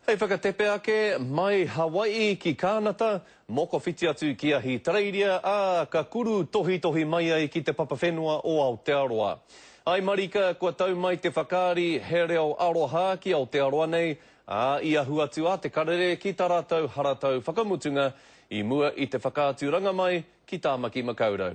Hei whakatepe ake, mai Hawai'i ki Kānata, mokowhiti atu ki Ahitereiria, ā, ka kuru tohitohi mai ai ki te papa whenua o Aotearoa. I marika, kua tau mai te whakaari he reo aroha ki Aotearoa nei, ā, i ahu atu a Te Karere ki tā rātou haratau whakamutunga i mua i te whakaaturanga mai ki Tāmaki Makaurau.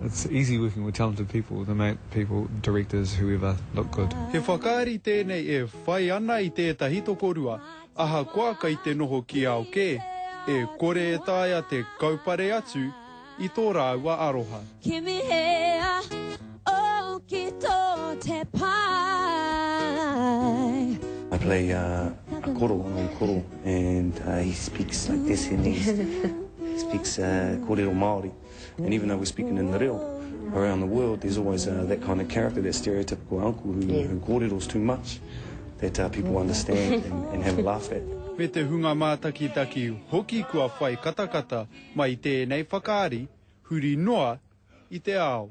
It's easy working with talented people, they make people, directors, whoever, look good. He whakaari tēnei e whai ana i tētahi tokorua, ahakoa kei te noho ki ao kē, e kore e taea te kaupare atu i tō rāua aroha. Kimi he au ki tō te pae. I play a koro, an old koro, and he speaks like this in his speaks kōrero Māori. And even though we're speaking in the reo, around the world there's always uh, that kind of character, that stereotypical uncle who, yeah. who kōreros too much, that uh, people understand and, and have a laugh at. Me te hunga mātakitaki hoki kua whai katakata mai tēnei whakaari huri noa i te ao.